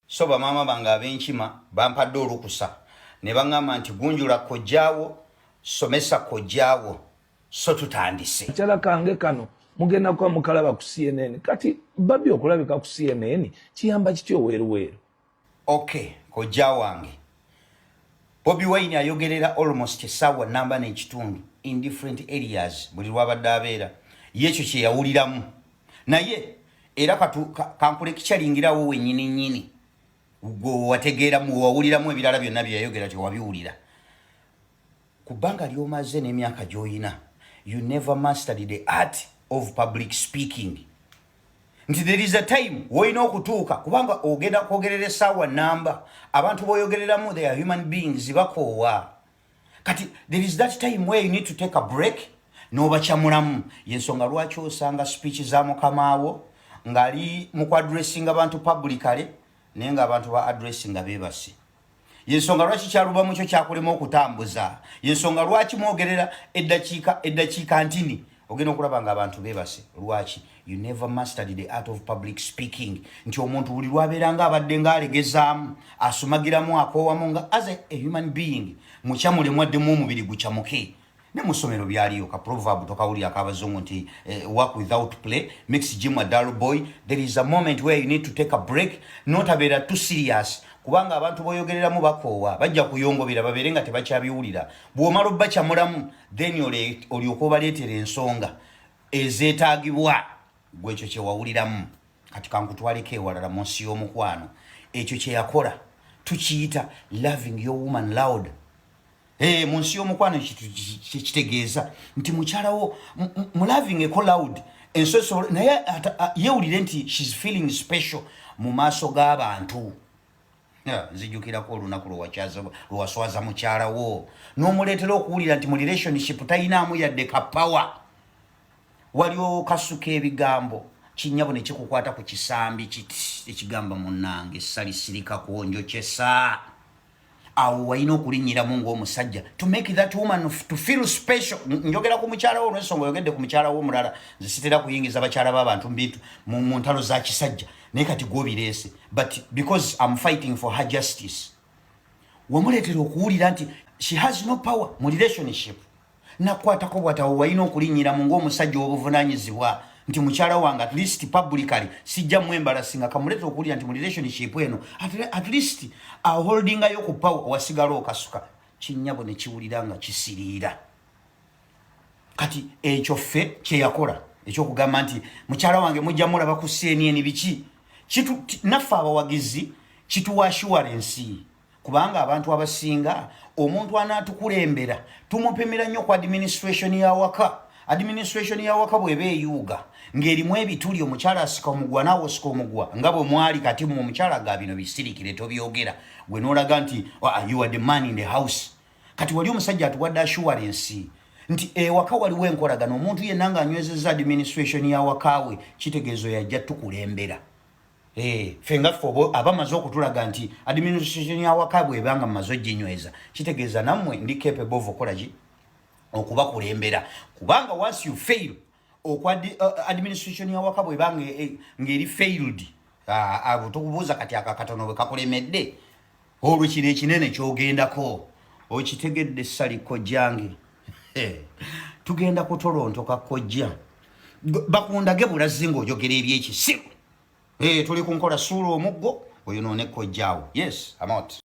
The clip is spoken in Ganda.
So bamaama bange ab'enkima bampadde olukusa ne bangamba nti gunjula kojjaawo, somesa kojjaawo so tutandise. Akacala kange kano mugenda kuba mukalaba ku CNN. Kati Barbie okulabika ku CNN kiyamba kitya oweeruweeru? Ok kojja wange Bobi Wine ayogerera almost essaawa namba n'ekitundu in different areas buli lwabadde abeera ye ekyo kye yawuliramu. naye era kankule kikyalingirawo wenyini nyini gwewategeeramu wewawuliramu ebirala byonna byeyayogera tewabiwulira ku bbanga lyomaze n'emyaka gyoyina you never mastered the art of public speaking nti there is a time woyina okutuuka kubanga ogenda kwogerera esaawa namba abantu boyogereramu they are human beings bakoowa kati there is that time where you need to take a break nobacamulamu yensonga lwaki osanga speech za mukamaawo ngali mukwadressinga bantu publicale naye nga abantu ba adressinga bebasi yensonga lwaki kyaluba mukyo kyakulema okutambuza yensonga lwaki mwogerera eddakiika eddakiika ntini ogenda okulaba nga abantu bebase lwaki you never mastered the art of public speaking nti omuntu buli lwabeera nga abadde nga alegezaamu asumagiramu akoowamu nga as a, a human being mukyamulemu addemu omubiri gucamuke ne mu ssomero byaliyo ka proverb tokawulira akabazungu nti eh, work without play makes jim a dull boy there is a moment where you need to take a break notabeera too serious kubanga abantu boyogereramu bakoowa bajja kuyongobera babeere nga tebakyabiwulira bw'omala obbacamulamu then olyoka obaleetera ensonga ezeetaagibwa gwe ekyo kyewawuliramu kati kankutwaleko ewalala mu nsi y'omukwano ekyo kyeyakola tukiyita loving your woman loud Hey, mu nsi y'omukwano kitegeeza nti mukyalawo mulaving eko loud ensoso naye yewulire nti shes feeling special mu maaso g'abantu nzijukirako olunaku lwewaswaza mukyala wo nomuleetera okuwulira nti mu relationship talinaamu yadde ka power waliwo kasuka ebigambo kinyabo nekikukwata ku kisambi kiti ekigamba munange essali sirikako njokyesa awo walina okulinyiramu ngaomusajja to make that woman to feel special njogera ku mukyala wo olwensonga oyogedde ku mukyala wo omulala nzisitera kuyingiza bakyala babantu mubintu mu ntalo za kisajja naye kati gwobireese but because am fighting for her justice wamuleetera okuwulira nti she has no power mu relationship nakwatako bwatawo walina okulinyiramu ngaomusajja wobuvunanyizibwa nti mukyala wange at least publicly sijja mwembalasinga kamuleetera okuwulira nti mu relationship eno at least aholdingayo ku power wasigala okasuka kinyabo nekiwulira nga kisiriira kati ekyo ffe kyeyakola ekyokugamba nti mukyala wange mujja mulaba ku cnn biki naffe abawagizi kituwa assuwarensi kubanga abantu abasinga omuntu anaatukulembera tumupimira nnyo ku administration yawaka administration yawaka bweba eyuuga ng'erimu ebituli omukyala asika omugwa naawe osika omugwa nga bwe mwali kati mu omukyala ga bino bisirikire tobyogera gwe noolaga nti ah, you are the man in the house kati wali omusajja atuwadde assurance nti ewaka waliwo enkolagana omuntu yenna nga anywezeza administration yawakawe kitegeezo yajja tukulembera eh, fe ngaffe oba abamaze okutulaga nti administration yawaka bwebanga mumaze ojinyweza kitegeeza nammwe ndi capable of okolaki okubakulembera kubanga once you fail okwa uh, administration yawaka bweba eh, ngeri failed ah, abo uh, tukubuuza kati akakatono bwe kakulemedde olwo kino ekinene kyogendako okitegedde sali kojjange tugenda kutolontoka kojja bakundage bulazi ngaoyogera ebyekisiru eh, tuli kunkola suula omuggo oyonoone kojjaawo yes amot